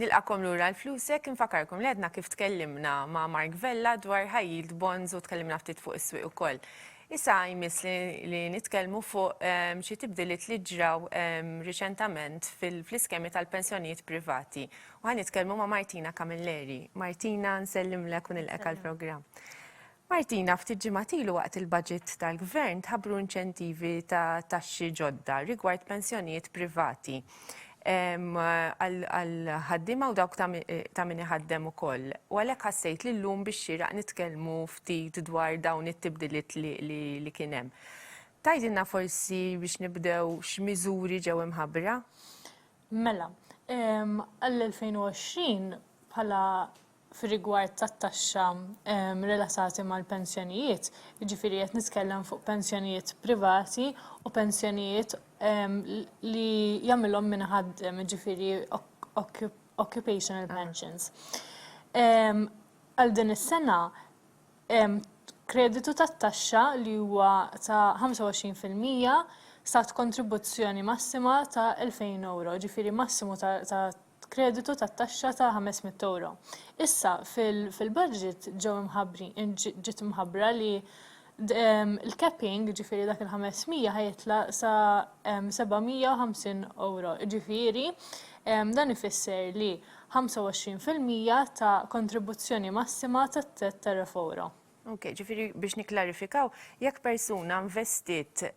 Nilqakom lura l-flusek, infakarkom li għedna kif tkellimna ma' Mark Vella dwar high yield bonds u tkellimna ftit fuq is-swieq ukoll. Issa jmiss li, li nitkellmu fuq ehm, xi tibdiliet li ġraw ehm, riċentament fil-iskemi tal-pensjonijiet privati U ħa nitkellmu ma' Martina Camilleri. Martina, nsellimlek u nilqek għall-programm. Martina, ftit ġimgħat ilu waqt il-budget tal-Gvern tħabbru inċentivi ta' taxxi ġodda rigward pensjonijiet privati għall-ħaddiema u dawk ta' min iħaddem ukoll. U għalhekk ħassejt li llum bix-xieraq nitkellmu ftit dwar dawn it-tibdiliet li kien hemm. Tgħidilna forsi biex nibdew x'miżuri ġew imħabbra? Mela, għall-2020, bħala fir-rigward tat-taxxa relatati mal-pensjonijiet, jiġifieri qed nitkellem fuq pensjonijiet privati u pensjonijiet li jagħmilhom min iħaddem, jiġifieri occupational pensions. Għal din is-sena, hemm kreditu tat-taxxa li huwa ta' 25 fil-mija sa kontribuzzjoni massima ta' €2,000, jiġifieri massimu ta' kreditu tat-taxxa ta' €500. Issa, fil-budget ġew imħabbrin, ġiet imħabbra li l-capping, jiġifieri dak il-500 ħa jitla' sa €750, jiġifieri dan ifisser li 25 fil-mija ta' kontribuzzjoni massima tat-tett ta' refouro. Ok, ġifieri biex nikklarifikaw, jekk persuna investiet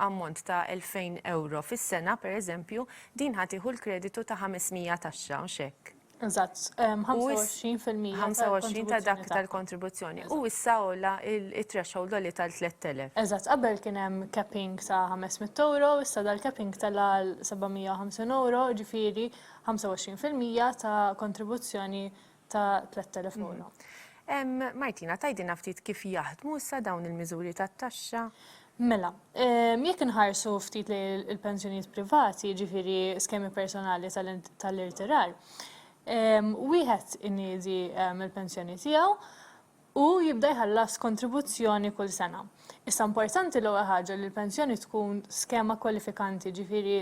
ammont ta' 2,000 ewro fis-sena, pereżempju, din ħa tieħu l-kreditu ta' 500 taxxa, hux hekk? Eżatt, 25 fil-mija tal-kontribuzzjoni tagħha. 25 ta' dak tal-kontribuzzjoni. U issa għola it-threshold għoli tal-3,000. Eżatt, qabel kien hemm capping ta' 500 ewro, issa dal-capping tela' għal 750 ewro, ġifieri 25 fil-mija ta' kontribuzzjoni ta' tlett elef ewro. Martina, tgħidilna ftit kif jaħdmu issa dawn il-miżuri tat-taxxa? Mela, jekk inħarsu ftit lejn il-pensjonijiet privati, jiġifieri skemi personali tal-irtirar, wieħed iniedi l-pensjoni tiegħu u jibda jħallas kontribuzzjoni kull sena. Issa importanti l-ewwel ħaġa li l-pensjoni tkun skema kwalifikanti, jiġifieri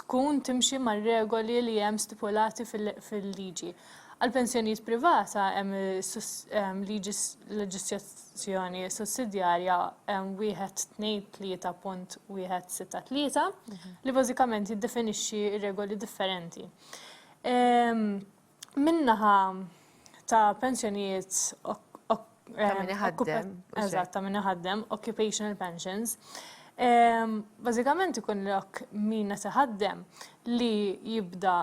tkun timxi mar-regoli li hemm stipulati fil-liġi. Għall-pensjonijiet privata hemm liġi leġislazzjoni sussidjarja 123.163 li bażikament jiddefinixxi regoli differenti. Min-naħa ta' pensjonijiet ta' min iħaddem, occupational pensions, bażikament ikun lok min qed iħaddem li jibda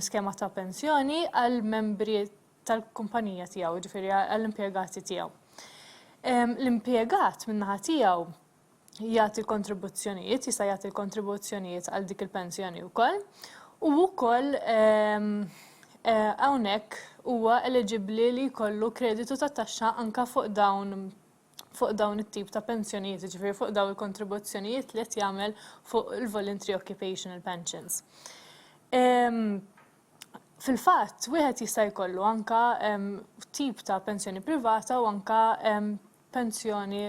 skema ta' pensjoni għall-membri tal-kumpanija tiegħu, jiġifieri għall-impjegati tiegħu. L-impjegat min-naħa tiegħu, jagħti l-kontribuzzjonijiet, jista' jagħti l-kontribuzzjonijiet għal dik il-pensjoni wkoll. U wkoll ehm, eh, hawnhekk huwa eliġibbli li jkollu kreditu ta' taxxa anka fuq dawn fuq dawn it-tip ta' pensjonijiet, ġifiri fuq dawn il-kontribuzzjonijiet li qed jagħmel fuq il-voluntary occupational pensions. Ehm, fil-fatt, wieħed jista' jkollu anka ehm, tip ta' pensjoni privata u anka pensjoni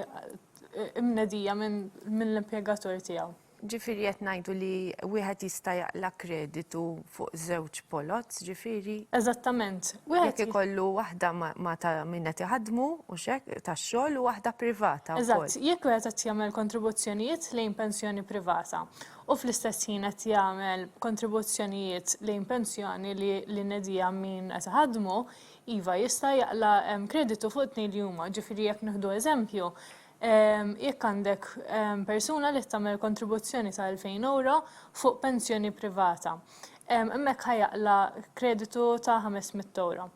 mnedija minn l-impjegatur tiegħu. Ġifieri qed ngħidu li wieħed jista' jaqla' kreditu fuq żewġ poloz, ġifieri. Eżattament. Jekk ikollu waħda ma' ta' min qed iħaddmu, hux hekk, tax-xogħol u waħda privata wkoll. Eżatt. Jekk wieħed qed jagħmel kontribuzzjonijiet lejn pensjoni privata u fl-istess ħin qed jagħmel kontribuzzjonijiet lejn pensjoni li li nedija min qed iħaddmu, Iva, jista' jaqla' kreditu fuq it-tnejn li huma. Ġifieri jekk nieħdu eżempju, jekk għandek persuna li qed tagħmel kontribuzzjoni ta' 2,000 ewro fuq pensjoni privata, hemmhekk ħa jaqla' kreditu ta' 500 ewro.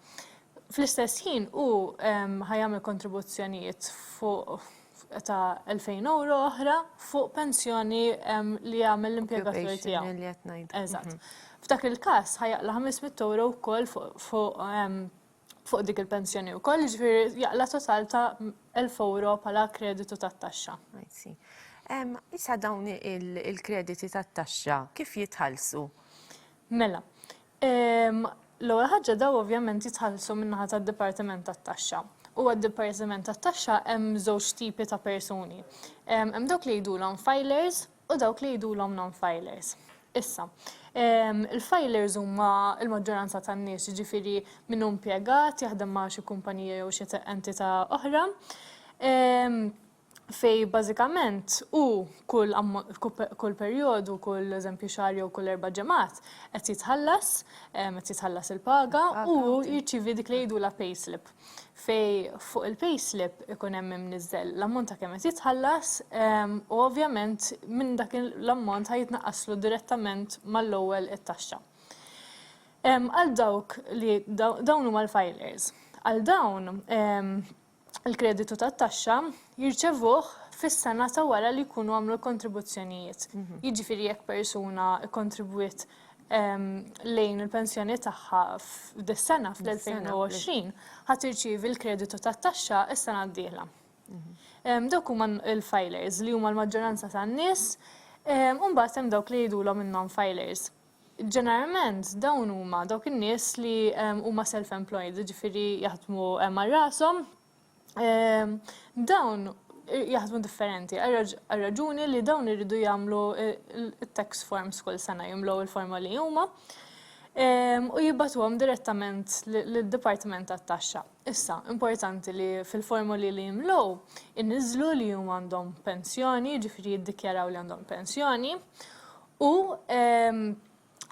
Fl-istess ħin hu ħa jagħmel kontribuzzjonijiet fuq ta' 2000 euro oħra fuq pensjoni li jagħmel l-impjegatur tiegħu. Eżatt. F'dak il-każ ħajaqla 500 euro wkoll fuq fuq dik il-pensjoni u koll ġifiri jaqla total ta' 1000 euro pala kreditu ta' taxxa. Issa dawn il-krediti ta' taxxa kif jitħalsu? Mela, L-ewwel ħaġa dawn ovvjament jitħallsu min-naħa tad-Dipartiment tat-Taxxa. U għad-Dipartiment tat-Taxxa hemm żewġ tipi ta' persuni. Hemm dawk li jgħidulhom filers u dawk li jgħidulhom non-filers. Issa, il-filers huma l-maġġoranza tan-nies, jiġifieri min hu mpjegat, jaħdem ma' xi kumpanija jew xi entità oħra. fejn bażikament hu kull kull perjodu, kull eżempju xahar jew kull erba' ġimgħat qed jitħallas, qed jitħallas il-paga u hu jirċievi dik li jgħidulha payslip. Fejn fuq il-payslip ikun hemm imniżżel l-ammont ta' kemm qed jitħallas u ovvjament minn dak l-ammont ħa jitnaqqaslu direttament mal-ewwel it-taxxa. Għal dawk li dawn huma l-filers. Għal dawn il-kreditu tat-taxxa jirċevuh fis-sena ta' wara li jkunu għamlu l-kontribuzzjonijiet. Jiġifieri jekk persuna kkontribwiet ehm, lejn il-pensjoni tagħha f'dis-sena fl-2020 ħa tirċievi l-kreditu tat-taxxa s-sena d-dieħla. Ehm, dawk huma l-filers li huma l-maġġoranza tan-nies, ehm, u mbagħad hemm dawk li jgħidulhom in-non-filers. Ġeneralment dawn huma dawk in-nies li huma self-employed, jiġifieri jaħdmu għal rashom. Dawn jaħdmu differenti għar-raġuni li dawn iridu jagħmlu t-tax forms kull sena, jimlew il-forma li huma u jibgħatuhom direttament lid-dipartiment tat-taxxa. Issa, importanti li fil-formoli li jimlew iniżżlu li huma għandhom pensjoni, jiġifieri jiddikjaraw li għandhom pensjoni, u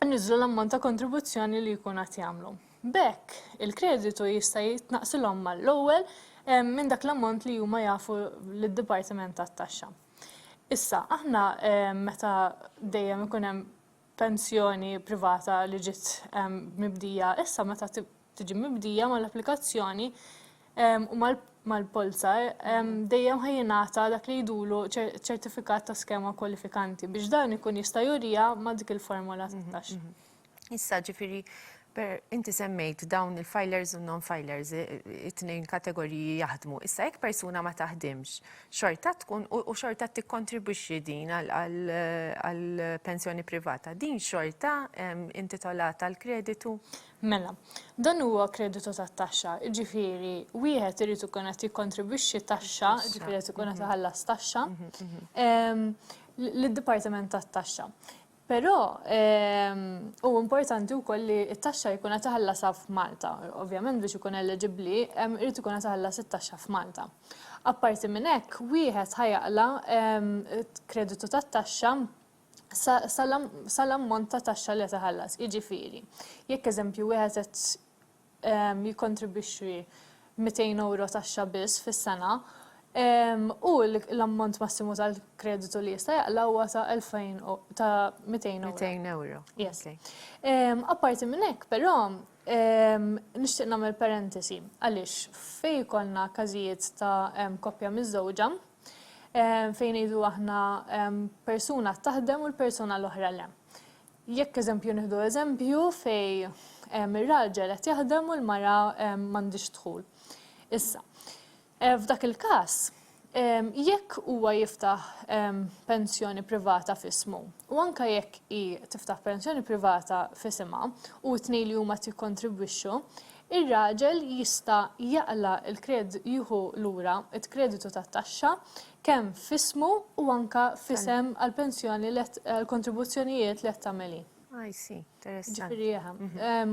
jniżżlu l-ammont ta' kontribuzzjoni li jkun qed jagħmlu. B'hekk, il-kreditu jista' jitnaqqsilhom mal-ewwel minn dak l-ammont li huma jafu lid-Dipartiment tat-Taxxa. Issa, aħna meta dejjem ikun hemm pensjoni privata li ġiet mibdija, issa meta tiġi mibdija mal-applikazzjoni u mal-polza, dejjem ħa jingħata dak li jidulu ċertifikat ta' skema kwalifikanti biex dan ikun jista' juriha ma' dik il-formola ta' taxxa. Issa ġifieri per inti semmejt dawn il-filers u non-filers it-tnejn kategoriji jaħdmu. Issa jekk persuna ma taħdimx, xorta tkun u xorta tikkontribwixxi din għall-pensjoni privata, din xorta intitolata l-kreditu? Mela, dan huwa kreditu tat-taxxa, jiġifieri wieħed irid ikun qed jikkontribwixxi taxxa, jiġifieri qed ikun qed iħallas taxxa lid-Dipartiment tat-Taxxa. Però huwa importanti wkoll li t-taxxa jkun qed iħallasha f'Malta. Ovvjament biex ikun eliġibbli jrid ikun qed iħallas it-taxxa f'Malta. Apparti minn hekk, wieħed ħa jaqla' kreditu tat-taxxa sal-ammont ta' taxxa li qed iħallas. Jiġifieri, jekk eżempju wieħed qed jikkontribwixxi 200 ewro taxxa biss fis-sena, hu l-ammont massimu tal-kreditu li jista' jaqla' huwa ta' 200 ewro. 200 ewro. Yes. Apparti minn hekk, però, nixtieq nagħmel parentesi għaliex fejn ikollna każijiet ta' koppja miżżewġa, fejn ngħidu aħna persuna taħdem u l-persuna l-oħra le. Jekk eżempju nieħdu eżempju fej ir-raġel qed jaħdem u l-mara m'għandix dħul. Issa, f'dak il-każ, jekk huwa jiftaħ pensjoni privata f'ismu u anke jekk hi tiftaħ pensjoni privata f'isimha u t-tnejn li huma qed jikkontribwixxu, Ir-raġel jista' jaqla' l-kred jieħu lura t-kreditu tat-taxxa kemm f'ismu u anke f'isem għall-pensjoni let għall-kontribuzzjonijiet li qed tagħmel hi. I see. Interessanti. Jiġifieri eħe.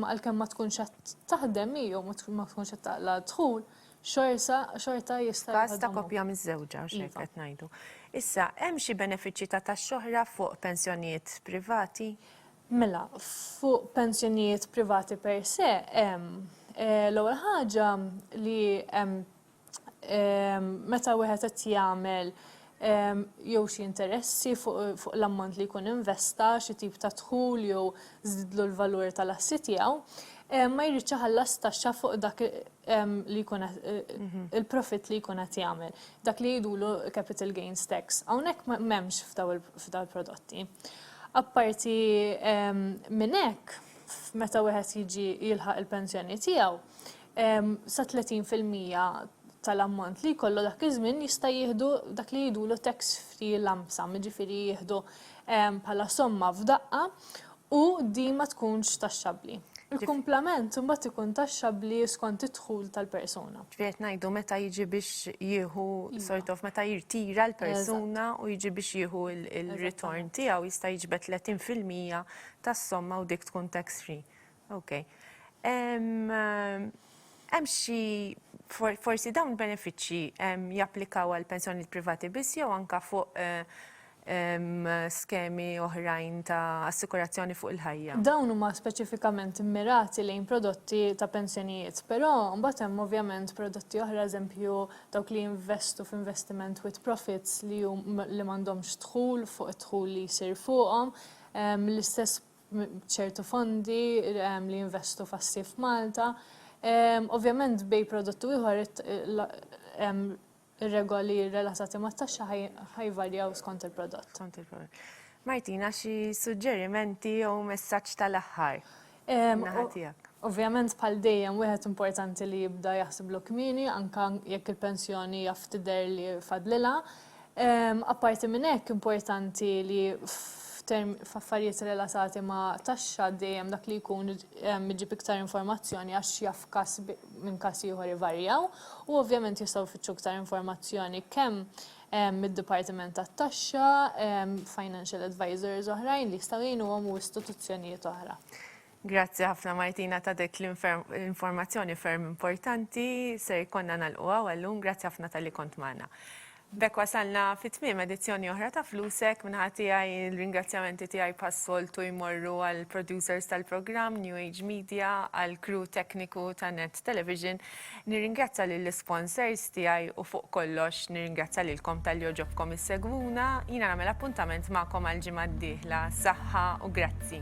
Għalkemm ma tkunx qed taħdem hi jew ma tkunx qed taqla' d-dħul, xorsa xorta jista' jieħodhom hu. F'każ ta' koppja miżżewġa, għax hekk qed ngħidu. Issa, hemm xi benefiċċji ta' taxxa oħra fuq pensjonijiet privati? Mela, fuq pensjonijiet privati per se hemm l-ewwel ħaġa li hemm meta wieħed qed jagħmel jew xi interessi fuq l-ammont li jkun investa, xi tip ta' dħul jew żdiedlu l-valur tal-assi tiegħu, ma jridx iħallas taxxa fuq dak li jkun qed il-profitt li jkun qed jagħmel. Dak li jgħidulu capital gains tax. Hawnhekk m'hemmx f'dawn il-prodotti. Apparti minn hekk, meta wieħed jiġi jilħaq il-pensjoni tiegħu, sa 30 fil-mija tal-ammont li jkollu dak iż-żmien jista' jieħdu dak li jgħidulu tax free lump sum, jiġifieri jieħdu bħala somma f'daqqa u din ma tkunx taxxabbli. Il-kumplament imbagħad ikun taxxabbli skont id-dħul tal-persuna. Ġifieri ngħidu meta jiġi biex jieħu iva. sort of meta jirtira l-persuna u jiġi biex jieħu il-ritorn tiegħu jista' jiġbed 30% tas-somma u dik tkun tax free. Ok. Hemm xi forsi dawn benefiċċji japplikaw għal pensjoni privati biss jew anka fuq eh, skemi oħrajn ta' assikurazzjoni fuq il-ħajja. Dawn huma speċifikament immirati lejn prodotti ta' pensjonijiet, però mbagħad hemm ovvjament prodotti oħra, eżempju dawk li jinvestu f'investiment with profits li li m'għandhomx dħul fuq id-dħul li jsir fuqhom, l-istess b'ċertu fondi li jinvestu f'assi f'Malta. Ovvjament bej prodott u ieħor Ir-regoli relatati mat-taxxa ħa jvarjaw skont il-prodott. Skont il-prodott. Martina, xi suġġerimenti jew messaġġ tal-aħħar min-naħa tiegħek? Ovvjament bħal dejjem wieħed importanti li jibda jaħsiblu kmieni anke jekk il-pensjoni jaf tidher li fadlilha. Apparti minn hekk importanti li f'affarijiet relatati ma' taxxa dejjem dak li jkun iġib iktar informazzjoni għax jaf każ minn każ ieħor ivarjaw u ovvjament jistgħu jfittxu iktar informazzjoni kemm mid-Dipartiment tat-Taxxa, financial advisors oħrajn li jistgħu jgħinuhom u istituzzjonijiet oħra. Grazzi ħafna Martina ta' dik l-informazzjoni ferm importanti, ser jkollna nagħlqu hawn għal-lum, grazzi ħafna talli kont magħna. B'hekk wasalna fi tmiem edizzjoni oħra ta' Flusek. Min-naħa tiegħi l-ringrazzjamenti tiegħi bħas-soltu jmorru għall-producers tal-programm, New Age Media, għall-crew tekniku ta' Net Television. Nirringrazzja lill-isponsors tiegħi u fuq kollox nirringrazzja lilkom talli għoġobkom issegwuna. Jiena nagħmel appuntament magħkom għall-ġimgħa d-dieħla. Saħħa u grazzi.